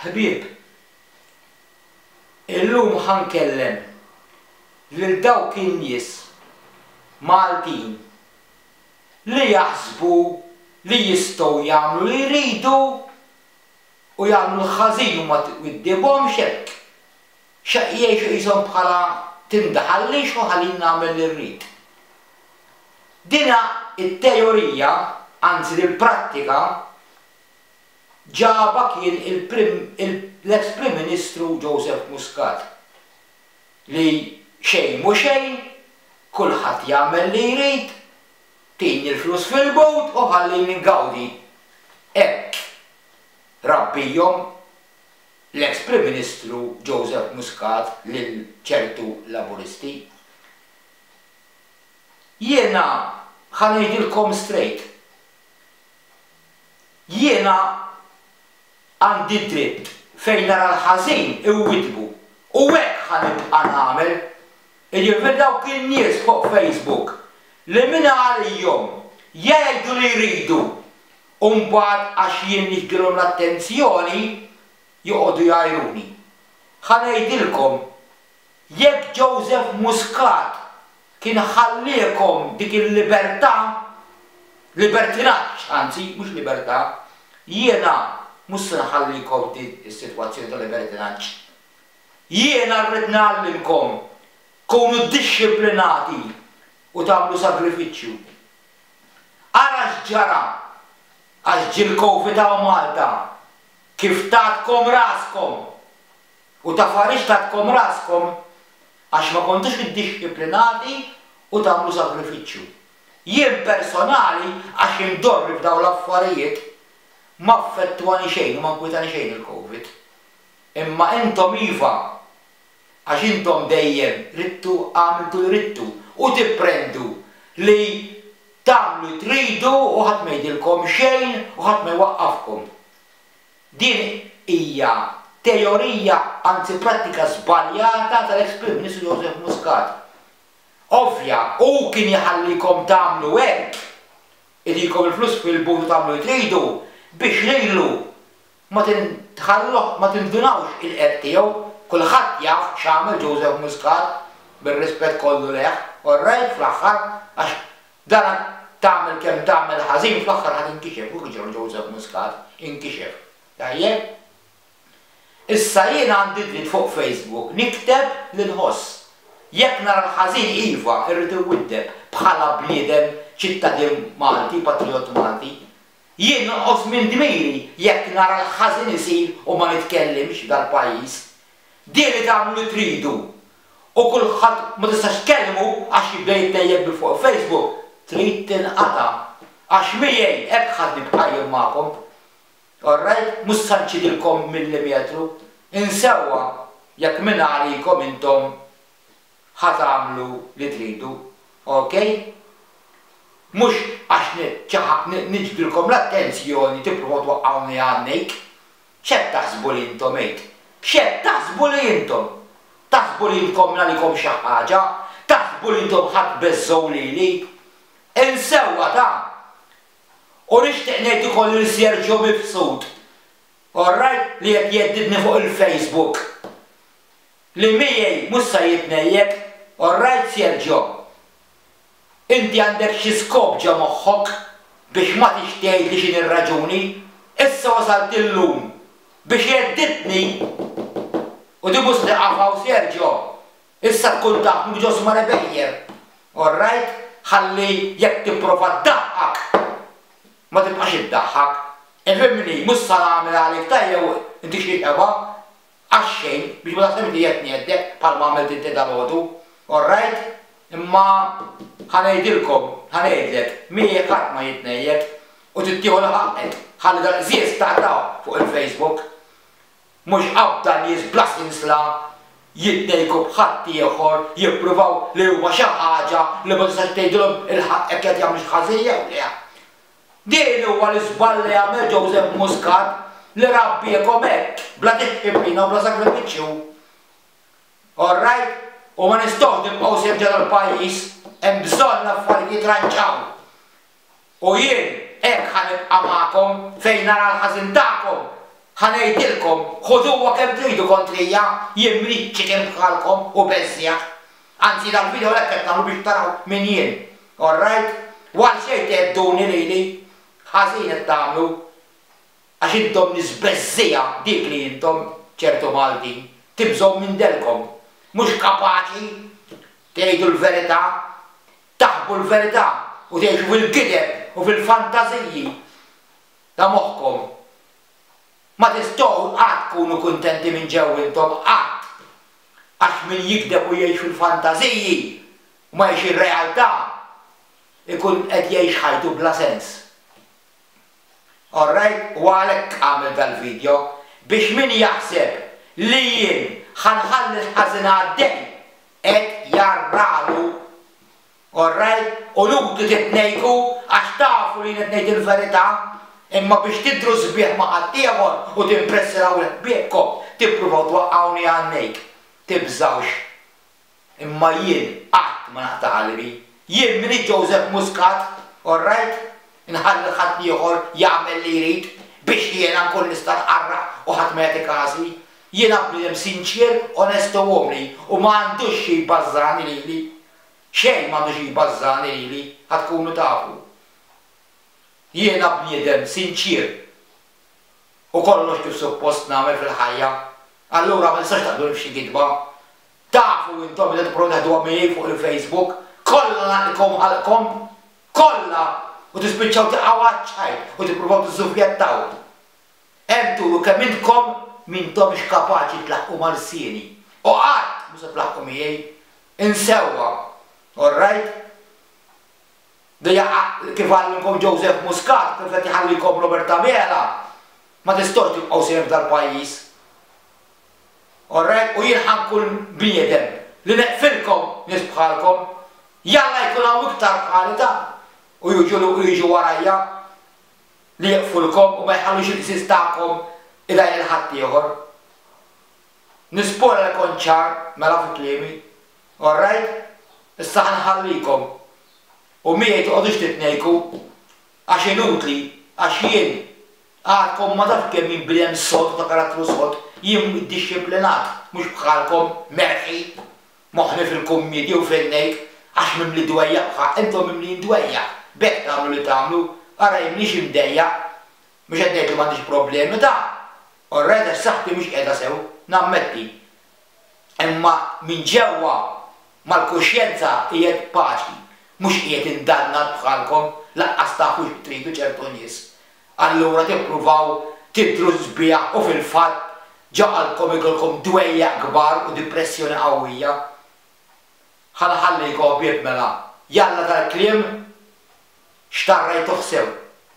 Ħbieb, illum ħa nkellem lil dawk in-nies Maltin li jaħsbu li jistgħu jagħmlu li jridu u jagħmlu l-ħażin u ma jwiddibhomx hekk, x'hekk jgħixu qishom bħala tinda ħallix u ħallini nagħmel li rrid. Din it-teorija, anzi din il-prattika, ġabha kien l-eks Prim Ministru Joseph Muscat li xejn mhu xejn, kulħadd jagħmel li jrid, tini l-flus fil-but u ħallini ngawdi. Hekk rabbihom l-eks Prim Ministru Joseph Muscat lil ċertu Laburisti. Jiena ħa ngħidilkom straight. Jiena għandi d-dritt fejn nara l-ħażin inwiddbu u hekk ħa nibqa' nagħmel. Jiġifieri dawk in-nies fuq Facebook li min għalihom jgħidu li jridu u mbagħad għax jien niġbdilhom l-attenzjoni joqogħdu jgħajruni. Ħa ngħidilkom Jekk Joseph Muscat kien ħalliekom dik il-libertà, libertinaġġ anzi, mhux libertà, jiena mhux se nħallikom f'din is-sitwazzjoni ta' libertinaġġ. Jiena rrid ngħallimkom tkunu dixxiplinati u tagħmlu sagrifiċċju. Ara x'ġara għax ġie l-Covid hawn Malta, kif tatkom raskom! U ta' farix tagħtkom raskom, għax ma kontux iddixxiplinati u tagħmlu sagrifiċċju. Jien personali, għax indorri f'dawn l-affarijiet, m'affettwani xejn u ma nkwitani xejn il-Covid. Imma intom iva, għax intom dejjem ridtu, għamiltu li ridtu u tipprendu li tagħmlu tridu u ħadd ma jgħidilkom xejn u ħadd ma jwaqqafkom. Din hija teorija anzi prattika żbaljata tal-eks Prim Ministru Joseph Muscat. Ovvja, hu kien jħallikom tagħmlu hekk, idilkom il-flus fil-but u tagħmlu li tridu biex lilhu ma tintħalluh ma tindunawx il-qerq tiegħu, kulħadd jaf x'għamel Joseph Muscat bir-rispett kollu lejh, orrajt fl-aħħar għax Dana tagħmel kemm tagħmel ħażin fl-aħħar ħa tinkixef u kiġra l-Joseph Muscat, inkixef. Tajjeb? Issa jiena għandi dritt fuq Facebook nikteb li nħoss. Jekk nara l-ħażin iva irrid inwiddeb bħala bniedem ċittadin Malti, patrijott Malti. Jien nonqos minn dmiri jekk nara l-ħażin isir u ma nitkellimx f'dal-pajjiż. Dieli tagħmlu li tridu u kulħadd ma tistax tkellmu għax jibda jittejjeb bi fuq Facebook, trid tinqata' għax miegħi hekk ħadni bqajjem magħkom. Orrajt, mhux se nċidilkom millimetru, insewwa jekk minn għalikom intom ħa tagħmlu li tridu, okej? Mhux għax niċċaħaq niġbdilkom l-attenzjoni tippruvaw twaqqgħuni għan-nejk. X'qed taħsbu li intom għid? X'qed taħsbu li intom? Taħsbu li intkom għalikom xi ħaġa? Taħsbu li intom ħa tbeżżgħu lili? Insewwa dan! U nixtieq ngħid ukoll lil Sergio Mifsud, orrajt, li qed jeddidni fuq il-Facebook, li miegħi mhux se jitnejjek, orrajt Sergio? Inti għandek xi skop ġo moħħok biex ma tix tgħid li x'inhi r-raġuni, issa wasalt illum biex gheddidtni u tibusni qafa u Sergio, issa tkun taf mhux ġo Sma Rebejjer, orrajt, ħalli jekk tipprova ddaħħak ma tibqax iddaħħak, ifhimni, mhux sa nagħmel għalik tajjeb u inti xi xebgħa. Għax-xejn, biex ma taħsibx li qed ngħeddek bħalma għamilt inti dalgħodu. All right? Imma ħa ngħidilkom, ħa ngħidlek, miegħi ħadd ma jitnejjek u trid tieħu l-ħaqqek. Ħalli dal-qżież taqtgħu fuq il-Facebook. Mhux qabda nies bla sinsla jitnejjku b'ħadd ieħor, jippruvaw li huma xi ħaġa li ma tistax tgħidilhom il-ħaqqek li qed jagħmlu xi ħażin jew le. Dehri huwa l-iżball li għamel Joseph Muscat li rabbiekom hekk bla dixxipina u bla sagrifiċċju. All right, u ma nistgħux nibqgħu sirġa tal-pajjiż, hemm bżonn l-affarijiet jitranġaw. U jien hekk ħa nibqa' magħkom fejn nara l-ħażin tagħkom ħa ngħidilkom ħuduha kemm tridu kontrija, jien m'ridx chicken bħalkom u beżżieq. Anzi dal video hekk qed nagħmlu biex taraw min jien. Alright? U għal xejn thedduni lili. Ħażin qed tagħmlu. Għax intom nies beżżiegħa, dik li intom, ċertu Maltin. Tibżgħu minn dellkom. Mhux kapaċi tgħidu l-verità. Taħbu l-verità u tgħixu fil-gideb u fil-fantażiji ta' moħħkom. Ma tistgħu qatt tkunu kuntenti minn ġew intom, qatt! Għax min jigdeb u jgħix fil-fantażiji u ma jgħix ir-realtà, ikun qed jgħix ħajtu bla sens. Orrajt, u għalhekk għamilt dal-vidjo, biex min jaħseb li jien ħa nħalli l-ħażin għaddej, qed jarralu. Orrajt, qulubtu titnejku għax tafu li jien qed ngħid il-verità, imma biex tidhru sbieħ ma' ħaddieħor u timpressiraw 'l ħbiebkom, tippruvaw twaqqgħuni għajnejk. Tibżgħux. Imma jien qatt ma naqta' qalbi. Jien m'iniex Joseph Muscat, orrajt? Inħalli 'l ħaddieħor jagħmel li jrid biex jiena nkun nista' nqarraq u ħadd ma jagħti każi. Jiena bniedem sinċier, onest u umli u ma għandux xi jbażżagħni lili. Xejn m'għandux jbażżagħni lili, ħa tkunu tafu. Jiena bniedem sinċier u kollox kif suppost nagħmel fil-ħajja, allura ma tistax taqbduni f'xi gidba. Tafu intom meta tipprovaw teħduha miegħi fuq il-Facebook, kollha ngħaqilkom ħalqkom! Kollha! U tispiċċaw tiqgħu għaċ-ċajt u tippruvaw tiżżufjettaw. Hemm turu kemm intkom m'intomx kapaċi tlaħħqu ma' lsieni, u qatt mhu se tlaħħqu miegħi. Insewwa. All right? Dejja kif għallimkom Joseph Muscat u kif qed iħallikom Robert Abela, ma tistgħux tibqgħu sejrin f'dal pajjiż. All right? U jien ħa nkun bniedem li neqfilkom nies bħalkom. Jalla jkun hawn iktar bħali dan u jiġu warajja. li jieqfulkom u ma jħallux il-qsis tagħkom idajjaq lil ħaddieħor. Nispora li kont ċar mela fi kliemi. All right, issa ħa nħallikom u miegħi toqgħodux titnejku għax inutli għax jien għadkom ma tafx kemm jien bnedem sod u ta' karattru sod, jien iddixxiplinat mhux bħalkom merħi. Moħħni fil-kummidi u f'għinejk, għax mimli dwejjaq bħa intom mimlijin dwejjaq, b'hekk tagħmlu li tagħmlu, ara jien m'iniex imdejjaq, mhux qed ngħid li m'għandix problemi ta'. Orrajt għax saħħti mhix qiegħda sew, nammetti. Imma minn ġewwa mal-kuxjenza qiegħed b'paċi, mhux qiegħed indannat bħalkom, lanqas tafu x'tridu ċertu nies. Allura tippruvaw tidhru sbieħ u fil-fatt ġagħalkom ikollkom dwejjaq kbar u dipressjoni qawwija. Ħa nħallikom ħbieb mela, jalla tal-kliem x'tarrajtuh sew.